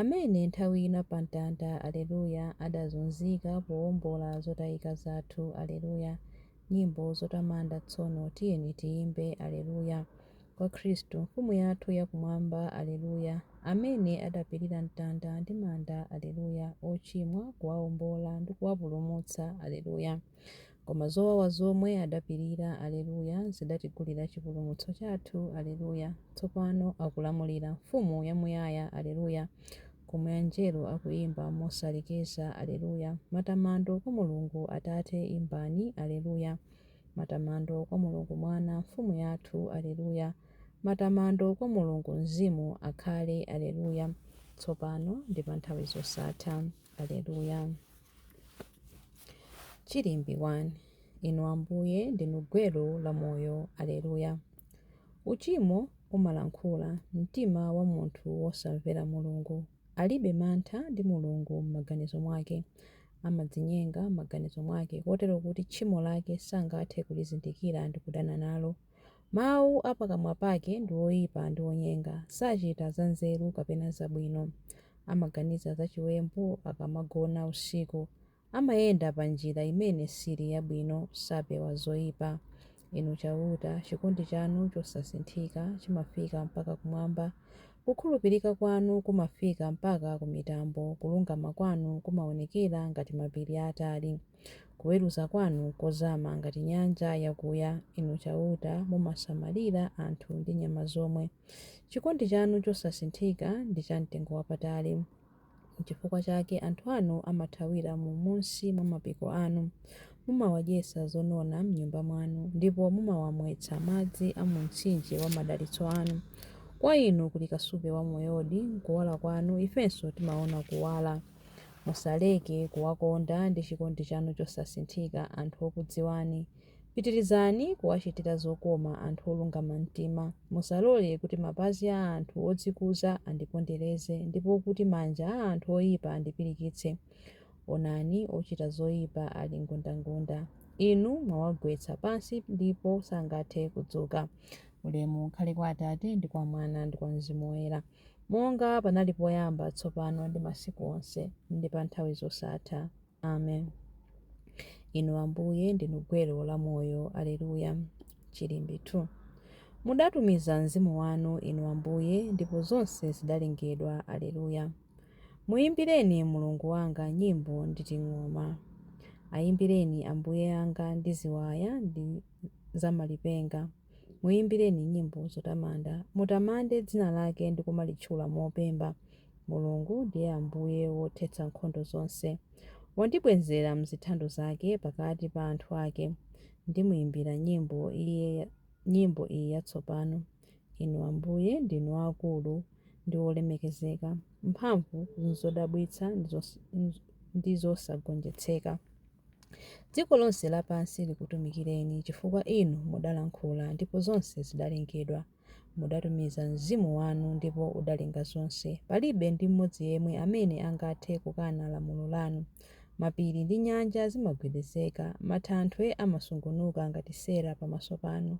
Amene nthawi ina pa mtanda, Aleluya, adazunzika powombola zotayika zathu, Aleluya, Nyimbo zotamanda Tsono tiyeni tiyimbe, Aleluya, Kwa Khristu Mfumu yathu ya Kumwamba, Aleluya, Amene adapirira mtanda ndi manda, Aleluya, Ochimwa kuwaombola ndi kuwapulumutsa, Aleluya. Koma zowawa zomwe adapirira, Aleluya, zidatigulira chipulumutso chathu, Aleluya. Tsopano akulamulira, Mfumu yamuyaya, Aleluya, Komwe Anjelo akuyimba mosalekeza, Aleluya. Matamando kwa Mulungu Atate, Imbani, Aleluya. Matamando kwa Mulungu Mwana, Mfumu yathu, Aleluya. Matamando kwa Mulungu Mzimu, Akhale, Aleluya, Tsopano ndi panthawi zosatha, Aleluya. Chilimbi 1 Inu Ambuye ndinu gwero la moyo Aleluya Uchimo umalankhula mumtima wa munthu wosamvera Mulungu Alibe mantha ndi Mulungu M'maganizo mwake amadzinyenga M'maganizo mwake kotero kuti tchimo lake sangathe kulizindikira ndi kudana nalo Mawu a pakamwa pake ndi oyipa ndi onyenga, sachita zanzeru kapena zabwino. Amaganiza zachiwembu akamagona usiku, amayenda pa njira imene sili yabwino, sapewa zoyipa. Inu Chauta, chikondi chanu chosasinthika chimafika mpaka kumwamba, kukhulupirika kwanu kumafika mpaka ku mitambo, kulungama kwanu kumaonekera ngati mapiri aatali. Kuweruza kwanu nkozama ngati nyanja yakuya, Inu Chauta, mumasamalira anthu ndi nyama zomwe. Chikondi chanu chosasinthika ndi chamtengowapatali. Nchifukwa chake anthu anu amathawira m'munsi mwa mapiko anu. Mumawadyetsa zonona m'Nyumba mwanu, ndipo mumawamwetsa madzi a mu mtsinje wa madalitso anu. Kwa Inu kuli kasupe wa moyodi, nkuwala kwanu ifenso timaona kuwala. Musaleke kuwakonda ndi chikondi chanu chosasinthika anthu okudziwani. Pitirizani kuwachitira zokoma anthu olungama mtima. Musalole kuti mapazi a anthu odzikuza andipondereze, ndipo kuti manja a anthu oyipa andipirikitse. Onani, ochita zoyipa ali ngundangunda. Inu mwawagwetsa pansi ndipo sangathe kudzuka. Ulemu ukhale kwa Atate, ndi kwa Mwana, ndi kwa Mzimu Woyera. Monga panali poyamba, tsopano, ndi masiku onse, ndi pa nthawi zosatha. Amen. Inu, Ambuye, ndinu gwero la moyo. Aleluya! Chilimbi 2. Mudatumiza Mzimu wanu, Inu Ambuye, ndipo zonse zidalengedwa. Aleluya! Muyimbireni Mulungu wanga nyimbo ndi ting'oma. Ayimbireni Ambuye anga ndi ziwaya ndi za malipenga. Muimbireni nyimbo zotamanda, mutamande dzina lake ndi kumalitchula mopemba. Mulungu ndiye Ambuye wothetsa nkhondo zonse. Wandibwezera m'zithando zake pakati pa anthu ake. Ndimuimbira nyimbo nyimbo iyi yatsopano. Inu Ambuye, ndinu aakulu ndi olemekezeka, mphamvu n'zodabwitsa ndi zosagonjetseka. Dziko lonse lapansi likutumikireni, chifukwa inu mudalankhula, ndipo zonse zidalengedwa. Mudatumiza mzimu wanu, ndipo udalenga zonse. Palibe ndi mmodzi yemwe amene angathe kukana lamulo lanu. Mapiri ndi nyanja zimagwedezeka, mathanthwe amasungunuka ngati sera pamaso panu.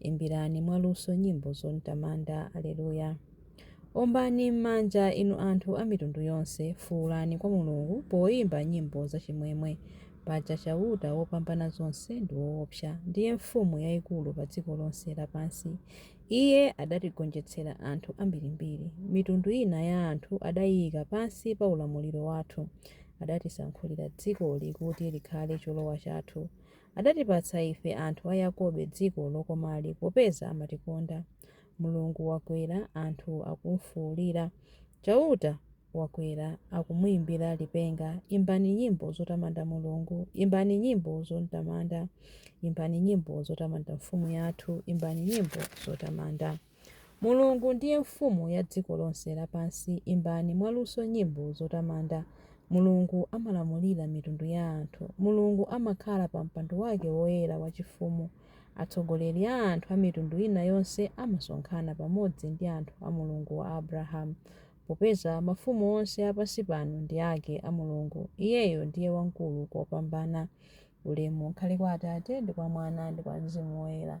Imbirani mwaluso nyimbo zom'tamanda. Aleluya. Ombani m'manja, inu anthu a mitundu yonse, fuulani kwa Mulungu poimba nyimbo zachimwemwe. Paja Chauta Wopambanazonse ndi woopsa, ndiye mfumu yaikulu pa dziko lonse lapansi. Iye adatigonjetsera anthu ambirimbiri. Mitundu ina ya anthu adaiika pansi pa ulamuliro wathu. Adatisankhulira dzikoli kuti likhale cholowa chathu. Adatipatsa ife anthu a Yakobe dziko lokomali popeza amatikonda. Mulungu wakwera, anthu akumfuulira. Chauta wakwera, akumuimbira lipenga. Imbani nyimbo zotamanda Mulungu, imbani nyimbo zotamanda. Imbani nyimbo zotamanda mfumu yathu, imbani nyimbo zotamanda. Mulungu ndiye Mfumu ya dziko lonse lapansi, imbani mwaluso nyimbo zotamanda Mulungu amalamulira mitundu ya anthu, Mulungu amakhala pa mpando wake woyera wachifumu, atsogoleri a anthu a mitundu ina yonse amasonkhana pamodzi ndi anthu a Mulungu wa Abrahamu, popeza mafumu onse a pansi pano ndi ake a Mulungu, Iyeyo ndiye wamkulu kopambana. Ulemu ukhale kwa Atate, ndi kwa Mwana, ndi kwa Mzimu Woyera.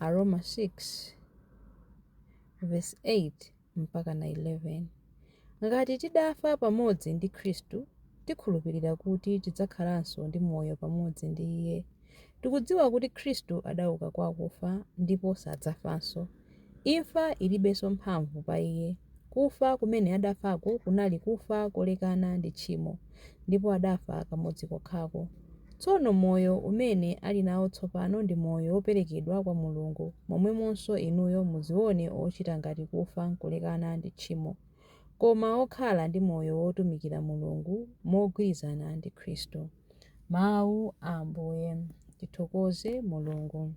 Aroma 6 verse 8 mpaka na 11 ngati tidafa pamodzi ndi khristu tikhulupirira kuti tidzakhalanso ndi moyo pamodzi ndi iye tikudziwa kuti khristu adauka kwa akufa ndipo sadzafanso Imfa ilibenso mphamvu pa iye. Kufa kumene adafako kunali kufa kolekana ndi tchimo, ndipo adafa kamodzi kokhako. Tsono moyo umene ali nawo tsopano ndi moyo woperekedwa kwa Mulungu, momwemonso inuyo muziwone ochita ngati kufa kulekana ndi tchimo, koma okhala ndi moyo wotumikira Mulungu mogwirizana ndi Khristu. Mau a Ambuye. Tithokoze Mulungu.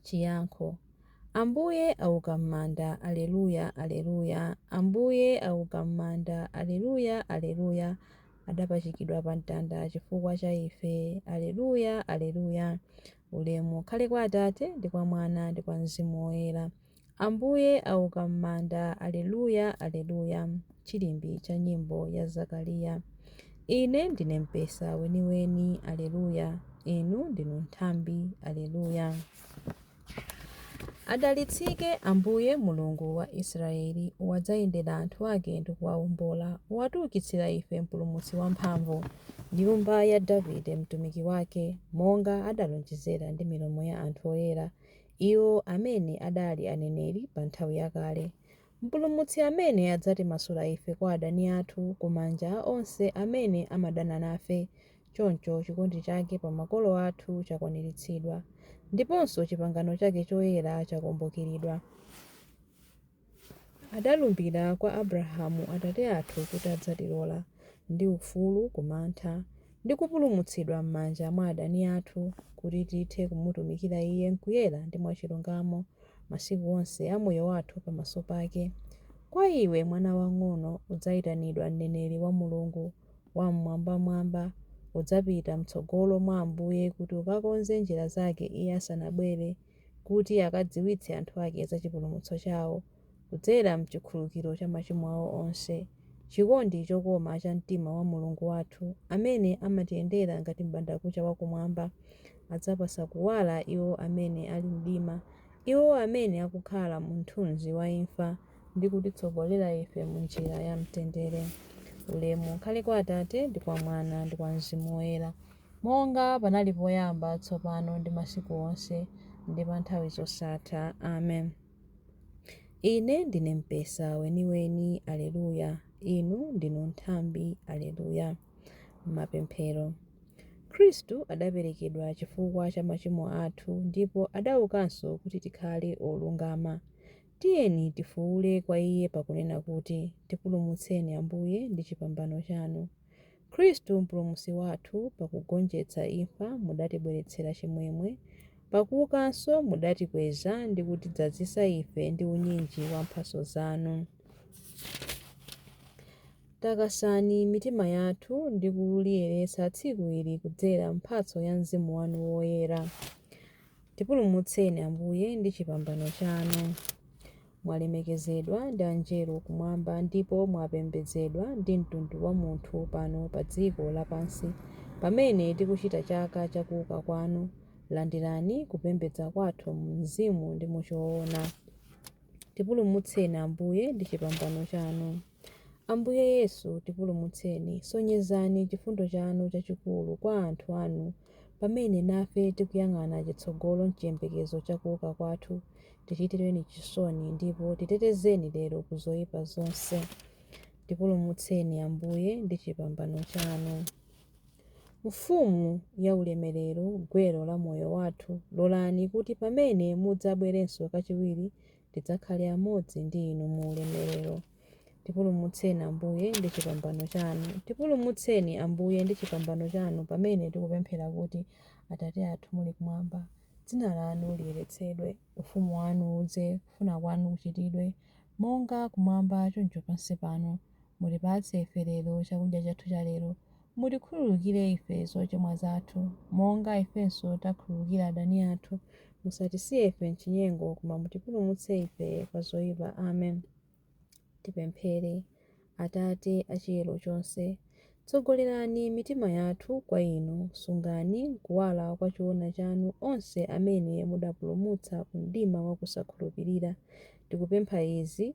Chiyankho Ambuye auka m'manda, Aleluya, Aleluya, Ambuye auka m'manda, Aleluya, Aleluya, Adapachikidwa pamtanda chifukwa cha ife, Aleluya, Aleluya, Ulemu ukhale kwa Atate, ndi kwa Mwana, ndi kwa Mzimu Woyera. Ambuye auka m'manda, Aleluya, Aleluya, Chilimbi cha nyimbo ya Zakaliya. Ine ndine mpesa weniweni, Aleluya, Inu ndinu nthambi, Aleluya. Adalitsike Ambuye Mulungu wa Israyeli, Wadzayendera anthu ake ndi kuwawombola, Watiukitsira ife Mpulumutsi wamphamvu, Nyumba ya Davide mtumiki wake, Monga adalonjezera ndi milomo ya anthu oyera, iwo amene adali aneneri pa nthawi yakale, Mpulumutsi amene adzatimasula ife kwa adani athu ku manja onse amene amadana nafe, choncho chikondi chake pa makolo athu chakwaniritsidwa, ndiponso chipangano chake choyera chakumbukiridwa. Adalumbira kwa Abrahamu atate athu kuti adzatilola, ndi ufulu ku mantha, ndi kupulumutsidwa m'manja mwa adani athu, kuti tithe kumutumikira Iye m'kuyera ndi mwachilungamo, masiku onse a moyo wathu pamaso pake. Kwa iwe, mwana wang'ono, udzaitanidwa mneneri wa Mulungu Wam'mwambamwamba. Udzapita m'tsogolo mwa Ambuye kuti ukakonze njira zake Iye asanabwere. kuti akadziwitse anthu ake za chipulumutso chao, kudzera m'chikhululukiro cha machimo ao onse, chikondi chokoma cha mtima wa Mulungu wathu, amene amatiyendera ngati m'bandakucha wa Kumwamba, adzapatsa kuwala iwo amene ali m'mdima, iwo amene akukhala mu mthunzi wa imfa, ndi kutitsogolera ife mu njira ya mtendere. Ulemu ukhale kwa Atate, ndi kwa Mwana, ndi kwa Mzimu Woyera. Monga panali poyamba, tsopano, ndi masiku onse, ndi pa nthawi zosatha. Amen. Ine ndine Mpesa weniweni. Aleluya! Inu ndinu nthambi. Aleluya! Mapemphero. Khristu adaperekedwa chifukwa cha machimo athu ndipo adaukanso kuti tikhale olungama. Tiyeni tifuule kwa Iye pakunena kuti, Tipulumutseni, Ambuye, ndi chipambano chanu. Khristu Mpulumutsi wathu, pakugonjetsa imfa mudatibweretsera chimwemwe, pakuukanso mudatikweza ndi kutidzazitsa ife ndi unyinji wa mphatso zanu. Takasani mitima yathu ndi kuliyeretsa tsiku ili kudzera m'mphatso ya Mzimu wanu Woyera. Tipulumutseni, Ambuye, ndi chipambano chanu. mwalemekezedwa ndi Angelo kumwamba ndipo mwapembedzedwa ndi mtundu wa munthu pano pa dziko lapansi pamene tikuchita chaka cha kuuka kwanu, landirani kupembedza kwathu mu mzimu ndi mu choona. Tipulumutseni Ambuye ndi chipambano chanu. Ambuye Yesu, tipulumutseni. Sonyezani chifundo chanu chachikulu kwa anthu anu pamene nafe tikuyang'ana chitsogolo m'chiyembekezo cha kuuka kwathu. Tichitireni chisoni ndipo titetezeni lero ku zoyipa zonse. Tipulumutseni, Ambuye, ndi chipambano chanu. Mfumu ya ulemerero, gwero la moyo wathu, lolani kuti pamene mudzabwerenso kachiwiri tidzakhale amodzi ndi Inu mu ulemerero. Tipulumutseni, Ambuye, ndi chipambano chanu. Tipulumutseni, Ambuye, ndi chipambano chanu pamene tikupemphera kuti, Atate athu muli kumwamba, dzina lanu liyeretsedwe, ufumu wanu udze, kufuna kwanu kuchitidwe, monga kumwamba choncho pansi pano. Mutipatse ife lero chakudya chathu chalero. Mutikhululukire ife zochimwa zathu, monga ifenso takhululukira adani athu, Musatisiye ife m'chinyengo, koma mutipulumutse ife kwa zoipa. Amen. Tipemphere. Atate a chiyero chonse, tsogolerani mitima yathu kwa Inu, sungani m'kuwala kwa choona chanu onse amene mudapulumutsa ku mdima wa kusakhulupirira. Tikupempha izi.